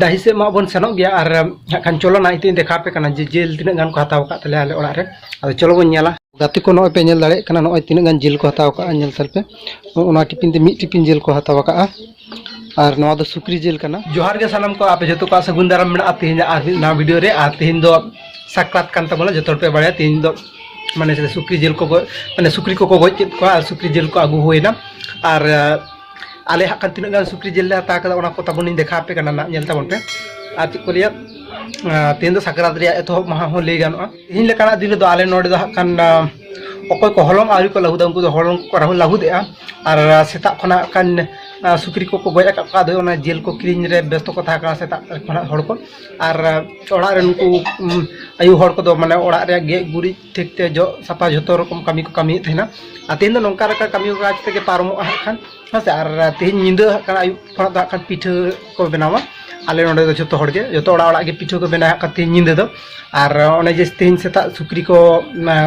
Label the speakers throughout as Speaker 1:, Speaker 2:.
Speaker 1: ᱰᱟᱹᱦᱤ ᱥᱮᱫ ᱢᱟ ᱵᱚᱱ ᱥᱮᱱᱚᱜ ᱜᱮᱭᱟ ᱟᱨ ᱦᱟᱸᱜ ᱠᱷᱟᱱ ᱪᱚᱞᱚ ᱱᱟ ᱤᱛᱟᱹᱧ ᱫᱮᱠᱷᱟᱣ ᱯᱮ ᱠᱟᱱᱟ ᱡᱮ ᱡᱤᱞ ᱛᱤᱱᱟᱹᱜ ᱜᱟᱱ ᱠᱚ ᱦᱟᱛᱟᱣ ᱟᱠᱟᱫ ᱛᱟᱞᱮᱭᱟ ᱟᱞᱮ ᱚᱲᱟᱜ ᱨᱮ ᱟᱫᱚ ᱪᱚᱞᱚ ᱵᱚᱱ ᱧᱮᱞᱟ ᱜᱟᱛᱮ ᱠᱚ ᱱᱚᱜᱼᱚᱭ ᱯᱮ ᱧᱮᱞ ᱫᱟᱲᱮᱭᱟᱜ ᱠᱟᱱᱟ ᱱᱚᱜᱼᱚᱭ ᱛᱤᱱᱟᱹᱜ ᱜᱟᱱ ᱡᱤᱞ ᱠᱚ ᱦᱟᱛᱟᱣ ᱟᱠᱟᱫᱼᱟ ᱧᱮᱞ ᱛᱟᱞᱯᱮ ᱚᱱᱟ ᱴᱤᱯᱤᱱ ᱛᱮ ᱢᱤᱫ ᱴᱤᱯᱤᱱ ᱡᱤᱞ ᱠᱚ ᱦᱟᱛᱟᱣ ᱟᱠᱟᱫᱼᱟ ᱟᱨ ᱱᱚᱣᱟ ᱫᱚ ᱥᱩᱠᱨᱤ ᱡᱤᱞ ᱠᱟᱱᱟ ᱡᱚᱦᱟᱨ ᱜᱮ ᱥᱟᱱᱟᱢ ᱠᱚ ᱟᱯᱮ ᱡᱚᱛᱚ ᱠᱚᱣᱟᱜ ᱥᱟᱹᱜᱩᱱ ᱫᱟᱨᱟᱢ ᱢᱮᱱᱟᱜᱼᱟ ᱛᱮᱦᱮᱧ ᱟᱨ ᱢᱤᱫ ᱱᱟᱣᱟ ᱵᱷᱤᱰᱤᱭᱳ ᱨᱮ ᱟᱨ ᱛᱮᱦᱮᱧ ᱫᱚ ᱥᱟᱠᱨᱟᱛ ᱠᱟᱱ ᱛᱟᱵᱚᱱᱟ ᱡᱚᱛᱚ ᱦᱚᱲ ᱯᱮ ᱵᱟᱲᱟᱭᱟ ᱛᱮᱦᱮᱧ ᱫᱚ ᱢᱟᱱᱮ ᱥᱩᱠᱨᱤ ᱡᱤᱞ ᱠᱚ ᱢᱟᱱᱮ ᱥᱩᱠᱨᱤ ᱠᱚᱠᱚ ᱜᱚᱡ ᱠᱮᱫ ᱠᱚᱣᱟ ᱟᱨ ᱥᱩᱠᱨᱤ ᱡᱤᱞ ᱠᱚ ᱟᱹᱜᱩ ᱦᱩᱭᱱᱟ ᱟᱨ ᱟᱞᱮ ᱦᱟᱸᱜ ᱠᱷᱟᱱ ᱛᱤᱱᱟᱹᱜ ᱜᱟᱱ ᱥᱩᱠᱨᱤ ᱡᱤᱞ ᱞᱮ ᱦᱟᱛᱟᱣ ᱠᱟᱫᱟ ᱚᱱᱟ ᱠᱚ ᱛᱟᱵᱚᱱᱤᱧ ᱫᱮᱠᱷᱟᱣ ᱟᱯᱮ ᱠᱟᱱᱟ ᱱᱟᱜ ᱧᱮᱞ ᱛᱟᱵᱚᱱ ᱯᱮ ᱟᱨ ᱪᱮᱫ ᱠᱚ ᱞᱟᱹᱭᱟ ᱛᱮᱦᱮᱧ ᱫᱚ ᱥᱟᱠᱨᱟᱛ ᱨᱮᱭᱟᱜ ᱮᱛᱚᱦᱚᱵ ᱢᱟᱦᱟ ᱦᱚᱸ ᱞᱟᱹᱭ ᱜᱟᱱᱚᱜᱼᱟ ᱛᱮᱦᱮᱧ ᱞᱮᱠᱟᱱᱟᱜ ᱫᱤᱱ ᱨᱮᱫᱚ ᱟᱞᱮ ᱱᱚᱰᱮ ᱫᱚ ᱦᱟᱸᱜ ᱠᱷᱟᱱ ᱚᱠᱚᱭ ᱠᱚ ᱦᱚᱞᱚᱝ ᱟᱹᱣᱨᱤ ᱠᱚ ᱞᱟᱹᱦᱩᱫᱟ ᱩᱱᱠᱩ ᱫᱚ ᱦᱚᱞᱚᱝ ᱠᱚ ᱨᱟᱦᱩ ᱞᱟᱹᱦᱩᱫᱮᱜᱼᱟ ᱟᱨ ᱥᱮᱛᱟᱜ ᱠᱷᱚᱱᱟᱜ ᱠᱷᱟᱱ ᱥᱩᱠᱨᱤ ᱠᱚᱠᱚ ᱜᱚᱡ ᱟᱠᱟᱫ ᱠᱚᱣᱟ ᱟᱫᱚ ᱚᱱᱟ ᱡᱤᱞ ᱠᱚ ᱠᱤᱨᱤᱧ ᱨᱮ ᱵᱮᱥᱛᱚ ᱠᱚ ᱛᱟᱦᱮᱸ ᱠᱟᱱᱟ ᱥᱮᱛᱟᱜ ᱠᱷᱚᱱᱟᱜ ᱦᱚᱲ ᱠᱚ ᱟᱨ ᱚᱲᱟᱜ ᱨᱮ ᱱᱩᱠᱩ ᱟᱭᱩ ᱦᱚᱲ ᱠᱚᱫᱚ ᱢᱟᱱᱮ ᱚᱲᱟᱜ ᱨᱮᱭᱟᱜ ᱜᱮᱡ ᱜᱩᱨᱤᱡ ᱴᱷᱤᱠ ᱛᱮ ᱡᱚᱜ ᱥᱟᱯᱷᱟ ᱡᱚᱛᱚ ᱨᱚᱠᱚᱢ ᱠᱟᱹᱢᱤ ᱠᱚ ᱠᱟᱹᱢᱤᱭᱮᱫ ᱛᱟᱦᱮᱱᱟ ᱟᱨ ᱛᱮᱦᱮᱧ ᱫᱚ ᱱᱚᱝᱠᱟ ᱞᱮᱠᱟ ᱠᱟᱹᱢᱤ ᱦᱚᱨᱟ ᱛᱮᱜᱮ ᱯᱟᱨᱚᱢᱚᱜᱼᱟ ᱦᱟᱸᱜ ᱠᱷᱟᱱ ᱦᱮᱸ ᱥᱮ ᱟᱨ ᱛᱮᱦᱮᱧ ᱧᱤᱫᱟᱹ ᱦᱟᱸᱜ ᱠᱷᱟᱱ ᱟᱹᱭᱩᱵ ᱠᱷᱚᱱᱟᱜ ᱫᱚ ᱦᱟᱸᱜ ᱠᱷᱟᱱ ᱯᱤᱴᱷᱟᱹ ᱠᱚ ᱵᱮᱱᱟᱣᱟ ᱟᱞᱮ ᱱᱚᱰᱮ ᱫᱚ ᱡᱚᱛᱚ ᱦᱚᱲ ᱜᱮ ᱡᱚᱛᱚ ᱚᱲᱟᱜ ᱚᱲᱟᱜ ᱜᱮ ᱯᱤᱴᱷᱟᱹ ᱠᱚ ᱵᱮᱱᱟᱣ ᱦᱟᱸᱜ ᱠᱷᱟᱱ ᱛᱮᱦᱮᱧ ᱧᱤᱫᱟᱹ ᱫᱚ ᱟᱨ ᱚᱱᱮ ᱡᱮ ᱛᱮᱦᱮᱧ ᱥᱮᱛᱟᱜ ᱥᱩᱠᱨᱤ ᱠᱚ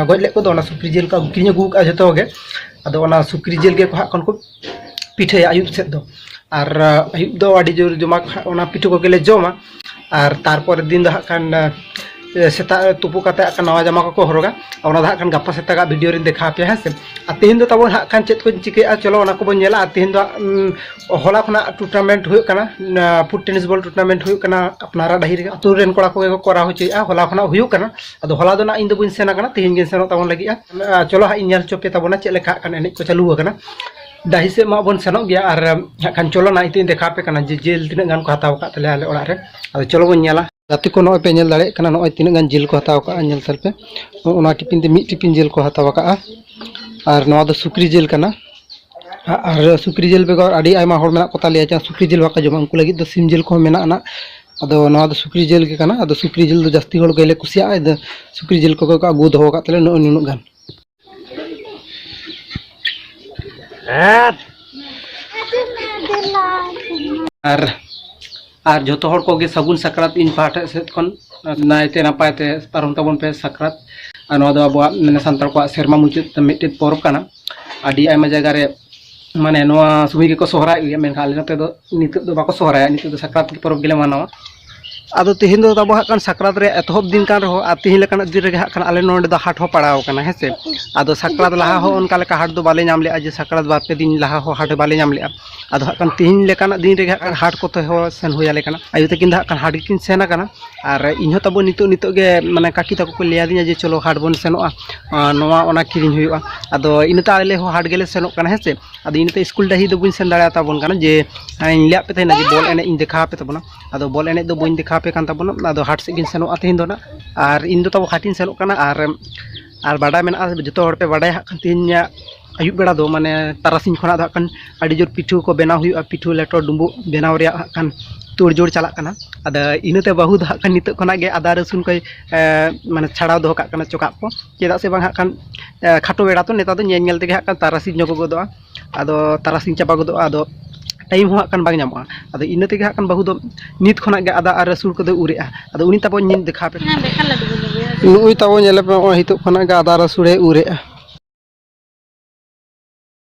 Speaker 1: ᱜᱚᱡ ᱞᱮᱫ ᱠᱚᱫᱚ ᱚᱱᱟ ᱥᱩᱠᱨᱤ ᱡᱤᱞ ᱠᱚ ᱠᱤᱨᱤᱧ ᱟᱹᱜᱩ ᱠᱟᱜᱼᱟ ᱡᱚᱛᱚ ᱜᱮ ᱟᱫᱚ ᱚᱱᱟ ᱥᱩᱠᱨᱤ ᱡᱤᱞ ᱜᱮ ᱦᱟᱸᱜ ᱠᱷᱟᱱ ᱠᱚ ᱯᱤᱴᱷᱟᱹᱭᱟ ᱟᱹᱭᱩᱵ ᱥᱮᱫ ᱫᱚ ᱟᱨ ᱟᱹᱭᱩᱵ ᱫᱚ ᱟᱹᱰᱤ ᱡᱳᱨ ᱡᱚᱢᱟᱠ ᱚᱱᱟ ᱯᱤᱴᱷᱟᱹ ᱠᱚᱜᱮᱞᱮ ᱡᱚᱢᱟ ᱟᱨ ᱛᱟᱨᱯᱚᱨᱮ ᱫᱤᱱ ᱫᱚ ᱦᱟᱸᱜ ᱠᱷᱟᱱ ᱥᱮᱛᱟᱜ ᱛᱩᱯᱩ ᱠᱟᱛᱮ ᱦᱟᱸᱜ ᱱᱟᱣᱟ ᱡᱟᱢᱟ ᱠᱚᱠᱚ ᱦᱚᱨᱚᱜᱟ ᱚᱱᱟ ᱫᱚ ᱦᱟᱸᱜ ᱠᱷᱟᱱ ᱜᱟᱯᱟ ᱥᱮᱛᱟᱜᱟᱜ ᱵᱷᱤᱰᱤᱭᱳ ᱨᱤᱧ ᱫᱮᱠᱷᱟᱣ ᱯᱮᱭᱟ ᱦᱮᱸ ᱥᱮ ᱟᱨ ᱛᱮᱦᱮᱧ ᱫᱚ ᱛᱟᱵᱚᱱ ᱦᱟᱸᱜ ᱠᱷᱟᱱ ᱪᱮᱫ ᱠᱚᱧ ᱪᱤᱠᱟᱹᱭᱟ ᱪᱚᱞᱚ ᱚᱱᱟ ᱠᱚᱵᱚᱱ ᱧᱮᱞᱟ ᱟᱨ ᱛᱮᱦᱮᱧ ᱫᱚ ᱦᱚᱞᱟ ᱠᱷᱚᱱᱟᱜ ᱴᱩᱨᱱᱟᱢᱮᱱᱴ ᱦᱩᱭᱩᱜ ᱠᱟᱱᱟ ᱯᱷᱩᱴ ᱴᱮᱱᱤᱥ ᱵᱚᱞ ᱴᱩᱨᱱᱟᱢᱮᱱᱴ ᱦᱩᱭᱩᱜ ᱠᱟᱱᱟ ᱟᱯᱱᱟᱨᱟᱜ ᱰᱟᱹᱦᱤ ᱨᱮᱜᱮ ᱟᱹᱛᱩ ᱨᱮᱱ ᱠᱚᱲᱟ ᱠᱚᱜᱮ ᱠᱚ ᱠᱚᱨᱟᱣ ᱦᱚᱪᱚᱭᱮᱫᱼᱟ ᱦᱚᱞᱟ ᱠᱷᱚᱱᱟᱜ ᱦᱩᱭᱩᱜ ᱠᱟᱱᱟ ᱟᱫᱚ ᱦᱚᱞᱟ ᱫᱚ ᱱᱟᱜ ᱤᱧ ᱫᱚ ᱵᱟᱹᱧ ᱥᱮᱱ ᱟᱠᱟᱱᱟ ᱛᱮᱦᱮᱧ ᱜᱤᱧ ᱥᱮᱱᱚᱜ ᱛᱟᱵᱚᱱ ᱞᱟᱹᱜᱤᱫᱼᱟ ᱪᱚᱞᱚ ᱦᱟᱸᱜ ᱤᱧ ᱧᱮᱞ ᱦᱚᱪᱚ ᱯᱮ ᱛᱟᱵᱚᱱᱟ ᱪᱮᱫ ᱞᱮᱠᱟ ᱦᱟᱸᱜ ᱠᱷᱟᱱ ᱮᱱᱮᱡ ᱠᱚ ᱪᱟᱹᱞᱩ ᱟᱠᱟᱱᱟ ᱰᱟᱹᱦᱤ ᱥᱮᱫ ᱢᱟ ᱵᱚᱱ ᱥᱮᱱᱚᱜ ᱜᱮᱭᱟ ᱟᱨ ᱦᱟᱸᱜ ᱠᱷᱟᱱ ᱪᱚᱞᱚ ᱱᱟ ᱤᱧ ᱫᱮᱠᱷᱟᱣ ᱯᱮ ᱠᱟᱱᱟ ᱡᱮ ᱡᱤᱞ ᱛᱤᱱᱟᱹᱜ ᱜᱟᱱ ᱠᱚ ᱦᱟᱛᱟᱣ ᱟᱠᱟᱫ ᱛᱟᱞᱮᱭᱟ ᱟᱞᱮ ᱚᱲᱟᱜ ᱨᱮ ᱟᱫᱚ ᱪᱚᱞᱚ ᱵᱚᱱ ᱧᱮᱞᱟ ᱜᱟᱛᱮ ᱠᱚ ᱱᱚᱜᱼᱚᱭ ᱯᱮ ᱧᱮᱞ ᱫᱟᱲᱮᱭᱟᱜ ᱠᱟᱱᱟ ᱱᱚᱜᱼᱚᱭ ᱛᱤᱱᱟᱹᱜ ᱜᱟᱱ ᱡᱤᱞ ᱠᱚ ᱦᱟᱛᱟᱣ ᱠᱟᱜᱼᱟ ᱧᱮᱞ ᱛᱟᱞᱯᱮ ᱚᱱᱟ ᱴᱤᱯᱤᱱ ᱛᱮ ᱢᱤᱫ ᱴᱤᱯᱤᱱ ᱡᱤᱞ ᱠᱚ ᱦᱟᱛᱟᱣ ᱠᱟᱜᱼᱟ ᱟᱨ ᱱᱚᱣᱟ ᱫᱚ ᱥᱩᱠᱨᱤ ᱡᱤᱞ ᱠᱟᱱᱟ ᱟᱨ ᱥᱩᱠᱨᱤ ᱡᱤᱞ ᱵᱮᱜᱚᱨ ᱟᱹᱰᱤ ᱟᱭᱢᱟ ᱦᱚᱲ ᱢᱮᱱᱟᱜ ᱠᱚ ᱛᱟᱞᱮᱭᱟ ᱡᱟᱦᱟᱸ ᱥᱩᱠᱨᱤ ᱡᱤᱞ ᱵᱟᱠᱚ ᱡᱚᱢᱟ ᱩᱱᱠᱩ ᱞᱟᱹᱜᱤᱫ ᱫᱚ ᱥᱤᱢ ᱡᱤᱞ ᱠᱚᱦᱚᱸ ᱢᱮᱱᱟᱜ ᱟᱱᱟᱜ ᱟᱫᱚ ᱱᱚᱣᱟ ᱫᱚ ᱥᱩᱠᱨᱤ ᱡᱤᱞ ᱜᱮ ᱠᱟᱱᱟ ᱟᱫᱚ ᱥᱩᱠᱨᱤ ᱡᱤᱞ ᱫᱚ ᱡᱟᱹᱥᱛᱤ ᱦᱚᱲ ᱜᱮᱞᱮ ᱠᱩᱥᱤᱭᱟᱜᱼᱟ ᱥᱩᱠᱨᱤ ᱡᱤᱞ ᱠᱚᱜᱮ ᱠᱚ ᱟᱹᱜᱩ ᱫᱚᱦᱚ ᱟᱠᱟᱫ ᱛᱟᱞᱮᱭᱟ ᱱᱩᱱᱟᱹᱜ ᱜᱟᱱ ᱟᱨ ᱟᱨ ᱡᱚᱛᱚ ᱦᱚᱲ ᱠᱚᱜᱮ ᱥᱟᱹᱜᱩᱱ ᱥᱟᱠᱨᱟᱛ ᱤᱧ ᱯᱟᱦᱴᱟ ᱥᱮᱫ ᱠᱷᱚᱱ ᱱᱟᱭᱛᱮ ᱱᱟᱯᱟᱭ ᱛᱮ ᱯᱟᱨᱚᱢ ᱛᱟᱵᱚᱱ ᱯᱮ ᱥᱟᱠᱨᱟᱛ ᱟᱨ ᱱᱚᱣᱟ ᱫᱚ ᱟᱵᱚᱣᱟᱜ ᱢᱟᱱᱮ ᱥᱟᱱᱛᱟᱲ ᱠᱚᱣᱟᱜ ᱥᱮᱨᱢᱟ ᱢᱩᱪᱟᱹᱫ ᱢᱤᱫᱴᱮᱱ ᱯᱚᱨᱚᱵᱽ ᱠᱟᱱᱟ ᱟᱹᱰᱤ ᱟᱭᱢᱟ ᱡᱟᱭᱜᱟ ᱨᱮ ᱢᱟᱱᱮ ᱱᱚᱣᱟ ᱥᱚᱢᱚᱭ ᱜᱮᱠᱚ ᱥᱚᱦᱨᱟᱭᱚᱜ ᱜᱮᱭᱟ ᱢᱮᱱᱠᱷᱟᱱ ᱟᱞᱮ ᱱᱚᱛᱮ ᱫᱚ ᱱᱤᱛᱚᱜ ᱫᱚ ᱵᱟᱠᱚ ᱥᱚᱦᱨᱟᱭᱟ ᱱᱤᱛᱚᱜ ᱫᱚ ᱥᱟᱠᱨᱟᱛ ᱯᱚᱨᱚᱵᱽ ᱜᱮᱞᱮ ᱢᱟᱱᱟᱣᱟ ᱟᱫᱚ ᱛᱤᱦᱤᱧ ᱫᱚ ᱛᱟᱵᱚ ᱦᱟᱸᱜ ᱠᱟᱱ ᱥᱟᱠᱨᱟᱛ ᱨᱮ ᱮᱛᱚᱦᱚᱵ ᱫᱤᱱ ᱠᱟᱱ ᱨᱮᱦᱚᱸ ᱟᱨ ᱛᱤᱦᱤᱧ ᱞᱮᱠᱟᱱᱟᱜ ᱫᱤᱱ ᱨᱮᱜᱮ ᱦᱟᱸᱜ ᱠᱷᱟᱱ ᱟᱞᱮ ᱱᱚᱰᱮ ᱫᱚ ᱦᱟᱴ ᱦᱚᱸ ᱯᱟᱲᱟᱣ ᱟᱠᱟᱱᱟ ᱦᱮᱸ ᱥᱮ ᱟᱫᱚ ᱥᱟᱠᱨᱟᱛ ᱞᱟᱦᱟ ᱦᱚᱸ ᱚᱱᱠᱟ ᱞᱮᱠᱟ ᱦᱟᱴ ᱫᱚ ᱵᱟᱞᱮ ᱧᱟᱢ ᱞᱮᱜᱼᱟ ᱡᱮ ᱥᱟᱠᱨᱟᱛ ᱵᱟᱨ ᱯᱮ ᱫᱤᱱ ᱞᱟᱦᱟ ᱦᱚᱸ ᱦᱟᱴ ᱵᱟᱞᱮ ᱧᱟᱢ ᱞᱮᱜᱼᱟ ᱟᱫᱚ ᱦᱟᱸᱜ ᱠᱷᱟᱱ ᱛᱤᱦᱤᱧ ᱞᱮᱠᱟᱱᱟᱜ ᱫᱤᱱ ᱨᱮᱜᱮ ᱦᱟᱸᱜ ᱠᱷᱟᱱ ᱦᱟᱴ ᱠᱚᱛᱮ ᱦᱚᱸ ᱥᱮᱱ ᱦᱩᱭ ᱟᱞᱮ ᱠᱟᱱᱟ ᱟᱭᱳ ᱛᱟᱹᱠᱤᱱ ᱫᱚ ᱦᱟᱸᱜ ᱠᱷᱟᱱ ᱦᱟᱴ ᱜᱮᱠᱤᱱ ᱥᱮᱱ ᱟᱠᱟᱱᱟ ᱟᱨ ᱤᱧ ᱦᱚᱸ ᱛᱟᱵᱚ ᱱᱤᱛᱚᱜ ᱱᱤᱛᱚᱜ ᱜᱮ ᱢᱟᱱᱮ ᱠᱟᱹᱠᱤ ᱛᱟᱠᱚ ᱠᱚ ᱞᱟᱹᱭ ᱟᱹᱫᱤᱧᱟ ᱡᱮ ᱪᱚᱞᱚ ᱦᱟᱴ ᱵᱚᱱ ᱥᱮᱱᱚᱜᱼᱟ ᱱᱚᱣᱟ ᱚᱱᱟ ᱠᱤᱨᱤᱧ ᱦᱩᱭᱩᱜᱼᱟ ᱟᱫᱚ ᱤᱱᱟᱹᱛᱮ ᱟᱞᱮ ᱦᱚᱸ ᱦᱟᱴ ᱜᱮᱞᱮ ᱥᱮᱱᱚᱜ ᱠᱟᱱᱟ ᱦᱮᱸ ᱥᱮ ᱟᱫᱚ ᱤᱱᱟᱹᱛᱮ ᱥᱠᱩᱞ ᱰᱟᱹᱦᱤ ᱫᱚ ᱵᱟᱹᱧ ᱥᱮᱱ ᱫᱟᱲᱮᱭᱟ ᱛᱟᱵᱚᱱ ᱠᱟᱱᱟ ᱡᱮ ᱤᱧ ᱞᱟᱹᱭᱟᱫ ᱯᱮ ᱛᱟᱦᱮᱱᱟ ᱡᱮ ᱵᱚᱞ ᱮᱱᱮᱡ ᱤᱧ ᱫᱮᱠᱷᱟᱣ ᱟᱯᱮ ᱛᱟᱵᱚᱱᱟ ᱟᱫᱚ ᱵᱚᱞ ᱮᱱᱮᱡ ᱫᱚ ᱵᱟᱹᱧ ᱫᱮᱠᱷᱟᱣ ᱟᱯᱮ ᱠᱟᱱ ᱛᱟᱵᱚᱱᱟ ᱟᱫᱚ ᱦᱟᱴ ᱥᱮᱫ ᱜᱤᱧ ᱥᱮᱱᱚᱜᱼᱟ ᱛᱮᱦᱮᱧ ᱫᱚ ᱱᱟᱜ ᱟᱨ ᱤᱧ ᱫᱚ ᱛᱟᱵᱚ ᱦᱟᱴᱤᱧ ᱥᱮᱱᱚᱜ ᱠᱟᱱᱟ ᱟᱨ ᱟᱨ ᱵᱟᱰᱟᱭ ᱢᱮᱱᱟᱜᱼᱟ ᱡᱚᱛᱚ ᱦᱚᱲ ᱯᱮ ᱵᱟᱰᱟᱭᱟ ᱦᱟᱸᱜ ᱛᱮᱦᱮᱧᱟᱜ ᱟᱹᱭᱩᱵ ᱵᱮᱲᱟ ᱫᱚ ᱢᱟᱱᱮ ᱛᱟᱨᱟᱥᱤᱧ ᱠᱷᱚᱱᱟᱜ ᱫᱚ ᱦᱟᱸᱜ ᱠᱷᱟᱱ ᱟᱹᱰᱤ ᱡᱳᱨ ᱯᱤᱴᱷᱟᱹ ᱠᱚ ᱵᱮᱱᱟᱣ ᱦᱩᱭᱩᱜᱼᱟ ᱯᱤᱴᱷᱟᱹ ᱞᱮᱴᱚ ᱰᱩᱸᱵᱩᱜ ᱵᱮᱱᱟᱣ ᱨᱮᱭᱟᱜ ᱦᱟᱸᱜ ᱠᱷᱟᱱ ᱛᱳᱲᱡᱳᱲ ᱪᱟᱞᱟᱜ ᱠᱟᱱᱟ ᱟᱫᱚ ᱤᱱᱟᱹᱛᱮ ᱵᱟᱹᱦᱩ ᱫᱚ ᱦᱟᱸᱜ ᱠᱷᱟᱱ ᱱᱤᱛᱚᱜ ᱠᱷᱚᱱᱟᱜ ᱜᱮ ᱟᱫᱟ ᱨᱟᱹᱥᱩᱱ ᱠᱚᱭ ᱢᱟᱱᱮ ᱪᱷᱟᱲᱟᱣ ᱫᱚᱦᱚ ᱠᱟᱜ ᱠᱟᱱᱟ ᱪᱚᱠᱟᱜ ᱠᱚ ᱪᱮᱫᱟᱜ ᱥᱮ ᱵᱟᱝ ᱦᱟᱸᱜ ᱠᱷᱟᱱ ᱠᱷᱟᱴᱚ ᱵᱮᱲᱟ ᱛᱚ ᱱᱮᱛᱟᱨ ᱫᱚ ᱧᱮᱞ ᱧᱮᱞ ᱛᱮᱜᱮ ᱦᱟᱸᱜ ᱠᱷᱟᱱ ᱛᱟᱨᱟᱥᱤᱧ ᱧᱚᱜᱚ ᱜᱚᱫᱚᱜᱼᱟ ᱟᱫᱚ ᱛᱟᱨᱟᱥᱤᱧ ᱪᱟᱵᱟ ᱜᱚᱫᱚᱜᱼᱟ ᱟᱫᱚ ᱴᱟᱭᱤᱢ ᱦᱚᱸ ᱦᱟᱸᱜ ᱠᱷᱟᱱ ᱵᱟᱝ ᱧᱟᱢᱚᱜᱼᱟ ᱟᱫᱚ ᱤᱱᱟᱹ ᱛᱮᱜᱮ ᱦᱟᱸᱜ ᱠᱷᱟᱱ ᱵᱟᱹᱦᱩ ᱫᱚ ᱱᱤᱛ ᱠᱷᱚᱱᱟᱜ ᱜᱮ ᱟᱫᱟ ᱟᱨ ᱨᱟᱹᱥᱩᱱ ᱠᱚᱫᱚ ᱩᱨᱮᱜᱼᱟ ᱟᱫᱚ ᱩᱱᱤ ᱛᱟᱵᱚ ᱧᱮᱞ ᱫᱮᱠᱷᱟᱣ ᱯᱮ ᱱᱩᱜᱼᱩᱭ ᱛᱟᱵᱚ ᱧᱮᱞᱮ ᱯᱮ ᱱᱚᱜᱼᱚᱭ ᱱᱤᱛᱚᱜ ᱠᱷᱚᱱᱟᱜ ᱜᱮ ᱟᱫᱟ ᱨᱟᱹᱥᱩᱱᱮ ᱩᱨᱮᱜᱼᱟ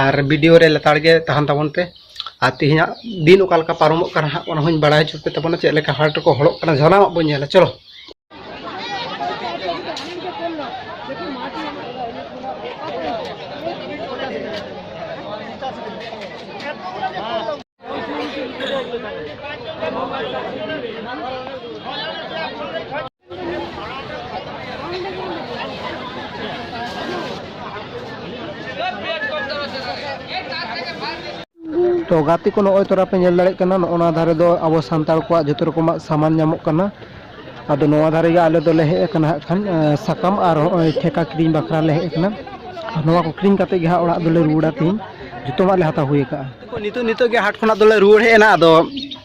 Speaker 1: ᱟᱨ ᱵᱷᱤᱰᱤᱭᱳ ᱨᱮ ᱞᱮᱛᱟᱲ ᱜᱮ ᱛᱟᱦᱮᱱ ᱛᱟᱵᱚᱱ ᱯᱮ ᱟᱨ ᱛᱮᱦᱮᱧᱟᱜ ᱫᱤᱱ ᱚᱠᱟ ᱞᱮᱠᱟ ᱯᱟᱨᱚᱢᱚᱜ ᱠᱟᱱᱟ ᱦᱟᱸᱜ ᱚᱱᱟ ᱦᱚᱸᱧ ᱵᱟᱲᱟᱭ ᱦᱚᱪᱚ ᱯᱮ ᱛᱟᱵᱚᱱᱟ ᱪᱮᱫ ᱞᱮᱠᱟ ᱦᱟᱴ ᱨᱮᱠᱚ ᱦᱚᱲᱚᱜ ᱠᱟᱱᱟ ᱡᱷᱚᱞᱟᱣᱟᱜ ᱵᱚᱱ ᱧᱮᱞᱟ ᱪᱚᱞᱚ ᱛᱚ ᱜᱟᱛᱮ ᱠᱚ ᱱᱚᱜᱼᱚᱭ ᱛᱚᱨᱟ ᱯᱮ ᱧᱮᱞ ᱫᱟᱲᱮᱭᱟᱜ ᱠᱟᱱᱟ ᱱᱚᱜᱼᱚ ᱱᱚᱣᱟ ᱫᱷᱟᱨᱮ ᱫᱚ ᱟᱵᱚ ᱥᱟᱱᱛᱟᱲ ᱠᱚᱣᱟᱜ ᱡᱚᱛᱚ ᱨᱚᱠᱚᱢᱟᱜ ᱥᱟᱢᱟᱱ ᱧᱟᱢᱚᱜ ᱠᱟᱱᱟ ᱟᱫᱚ ᱱᱚᱣᱟ ᱫᱷᱟᱨᱮ ᱜᱮ ᱟᱞᱮ ᱫᱚᱞᱮ ᱦᱮᱡ ᱟᱠᱟᱱᱟ ᱦᱟᱸᱜ ᱠᱷᱟᱱ ᱮᱸ, ᱥᱟᱠᱟᱢ ᱟᱨ ᱱᱚᱜᱼᱚᱭ ᱴᱷᱮᱠᱟ ᱠᱤᱨᱤᱧ ᱵᱟᱠᱷᱨᱟ ᱞᱮ ᱦᱮᱡ ᱟᱠᱟᱱᱟ ᱟᱨ ᱱᱚᱣᱟ ᱠᱚ ᱠᱤᱨᱤᱧ ᱠᱟᱛᱮ ᱜᱮ ᱦᱟᱸᱜ ᱚᱲᱟᱜ ᱫᱚᱞᱮ ᱨᱩᱣᱟᱹᱲᱟ ᱛᱤᱦᱤᱧ ᱡᱚᱛᱚᱣᱟᱜ ᱞᱮ ᱦᱟᱛᱟᱣ ᱦᱩᱭ ᱟᱠᱟᱜᱼᱟ ᱱᱤᱛᱚᱜ ᱱᱤᱛᱚᱜ ᱜᱮ ᱦᱟᱴ ᱠᱷᱚᱱᱟᱜ ᱫᱚᱞᱮ ᱨᱩᱣᱟᱹᱲ ᱦᱮᱡ ᱮᱱᱟ ᱟᱫᱚ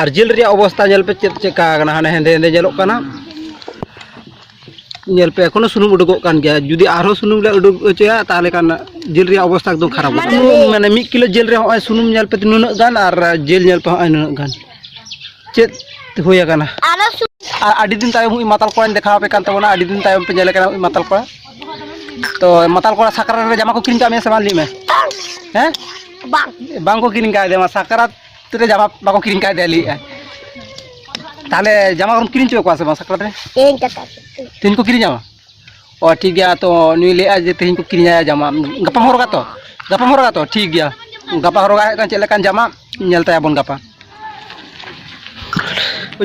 Speaker 1: ᱟᱨ ᱡᱤᱞ ᱨᱮᱭᱟᱜ ᱚᱵᱚᱥᱛᱟ ᱧᱮᱞ ᱯᱮ ᱪᱮᱫ ᱪᱮᱫᱠᱟ ᱟᱠᱟᱱᱟ ᱦᱟᱱᱮ ᱦᱮᱸᱫᱮ ᱦᱮᱸᱫᱮ ᱧᱮᱞᱚᱜ ᱠᱟᱱᱟ ᱧᱮᱞ ᱯᱮ ᱮᱠᱷᱚᱱᱳ ᱥᱩᱱᱩᱢ ᱩᱰᱩᱠᱚᱜ ᱠᱟᱱ ᱜᱮᱭᱟ ᱡᱩᱫᱤ ᱟᱨᱦᱚᱸ ᱥᱩᱱᱩᱢ ᱞᱮ ᱩᱰᱩᱠ ᱦᱚᱪᱚᱭᱟ ᱛᱟᱦᱚᱞᱮ ᱠᱷᱟᱱ ᱡᱤᱞ ᱨᱮᱭᱟᱜ ᱚᱵᱚᱥᱛᱟ ᱮᱠᱫᱚᱢ ᱠᱷᱟᱨᱟᱯ ᱢᱟᱱᱮ ᱢᱤᱫ ᱠᱤᱞᱳ ᱡᱤᱞ ᱨᱮ ᱦᱚᱸᱜᱼᱚᱭ ᱥᱩᱱᱩᱢ ᱧᱮᱞ ᱯᱮ ᱱᱩᱱᱟᱹᱜ ᱜᱟᱱ ᱟᱨ ᱡᱤᱞ ᱧᱮᱞ ᱯᱮ ᱦᱚᱸᱜᱼᱚᱭ ᱱᱩᱱᱟᱹᱜ ᱜᱟᱱ ᱪᱮᱫ ᱦᱩᱭ ᱟᱠᱟᱱᱟ ᱟᱨ ᱟᱹᱰᱤ ᱫᱤᱱ ᱛᱟᱭᱚᱢ ᱩᱱᱤ ᱢᱟᱛᱟᱞ ᱠᱚᱲᱟᱧ ᱫᱮᱠᱷᱟᱣ ᱟᱯᱮ ᱠᱟᱱ ᱛᱟᱵᱚᱱᱟ ᱟᱹᱰᱤ ᱫᱤᱱ ᱛᱟᱭᱚᱢ ᱯᱮ ᱧᱮᱞ ᱠᱟᱱᱟ ᱩᱱᱤ ᱢᱟᱛᱟᱞ ᱠᱚᱲᱟ ᱛᱚ ᱢᱟᱛᱟᱞ ᱠᱚᱲᱟ ᱥᱟᱠᱨᱟᱛ ᱨᱮ ᱡᱟᱢᱟ ᱠᱚ ᱠᱤᱨᱤᱧ ᱠᱟᱜ ᱢᱮᱭᱟ ᱥᱮ ᱵᱟᱝ ᱞᱟᱹᱭ ᱢᱮ ᱦᱮᱸ ᱵᱟᱝ ᱵᱟᱝ ᱠᱚ ᱠᱤᱨᱤᱧ ᱠᱟᱜ ᱢᱟ ᱥᱟᱠᱨᱟᱛ ᱨᱮ ᱡᱟᱢᱟ ᱵᱟᱠᱚ ᱠᱤᱨᱤᱧ ᱠᱟᱭ ᱫᱮᱭᱟ ᱞᱟᱹᱭᱮᱫᱼᱟᱭ ᱛᱟᱦᱚᱞᱮ ᱡᱟᱢᱟ ᱠᱚᱢ ᱠᱤᱨᱤᱧ ᱦᱚᱪᱚ ᱠᱚᱣᱟ ᱥᱮ ᱵᱟᱝ ᱥᱟᱠᱨᱟᱛ ᱨᱮ ᱛᱮᱦᱮᱧ ᱠᱟᱛᱷᱟ ᱛᱮᱦᱮᱧ ᱠᱚ ᱠᱤᱨᱤᱧᱟᱢᱟ ᱚ ᱴᱷᱤᱠ ᱜᱮᱭᱟ ᱛᱚ ᱱᱩᱭ ᱞᱟᱹᱭᱮᱫᱼᱟ ᱡᱮ ᱛᱮᱦᱮᱧ ᱠᱚ ᱠᱤᱨᱤᱧᱟᱭᱟ ᱡᱟᱢᱟ ᱜᱟᱯᱟᱢ ᱦᱚᱨᱚᱜᱟ ᱛᱚ ᱜᱟᱯᱟᱢ ᱦᱚᱨᱚᱜᱟ ᱛᱚ ᱴᱷᱤᱠ ᱜᱮᱭᱟ ᱜᱟᱯᱟ ᱦᱚᱨᱚᱜᱟ ᱦᱮᱡ ᱠᱟᱱ ᱪᱮᱫ ᱞᱮᱠᱟᱱ ᱡᱟᱢᱟ ᱧᱮᱞ ᱛᱟᱭᱟᱵᱚᱱ ᱜᱟᱯᱟ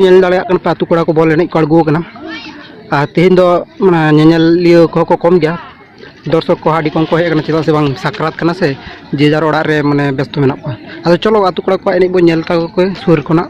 Speaker 1: ᱧᱮᱞ ᱫᱟᱲᱮᱭᱟᱜ ᱠᱟᱱᱟ ᱯᱮ ᱟᱛᱳ ᱠᱚᱲᱟ ᱠᱚ ᱵᱚᱞ ᱮᱱᱮᱡ ᱠᱚ ᱟᱬᱜᱚ ᱟᱠᱟᱱᱟ ᱟᱨ ᱛᱮᱦᱮᱧ ᱫᱚ ᱢᱟᱱᱮ ᱧᱮᱧᱮᱞᱤᱭᱟᱹ ᱠᱚᱦᱚᱸ ᱠᱚ ᱠᱚᱢ ᱜᱮᱭᱟ ᱫᱚᱨᱥᱚᱠ ᱠᱚ ᱟᱹᱰᱤ ᱠᱚᱢ ᱠᱚ ᱦᱮᱡ ᱟᱠᱟᱱᱟ ᱪᱮᱫᱟᱜ ᱥᱮ ᱵᱟᱝ ᱥᱟᱠᱨᱟᱛ ᱠᱟᱱᱟ ᱥᱮ ᱡᱮ ᱡᱟᱨ ᱚᱲᱟᱜ ᱨᱮ ᱢᱟᱱᱮ ᱵᱮᱥᱛᱚ ᱢᱮᱱᱟᱜ ᱠᱚᱣᱟ ᱟᱫᱚ ᱪᱚᱞᱚ ᱟᱛᱳ ᱠᱚᱲᱟ ᱠᱚᱣᱟᱜ ᱮᱱᱮᱡ ᱵᱚᱱ ᱧᱮᱞ ᱛᱟᱠᱚ ᱠᱚ ᱥᱩᱨ ᱠᱷᱚᱱᱟᱜ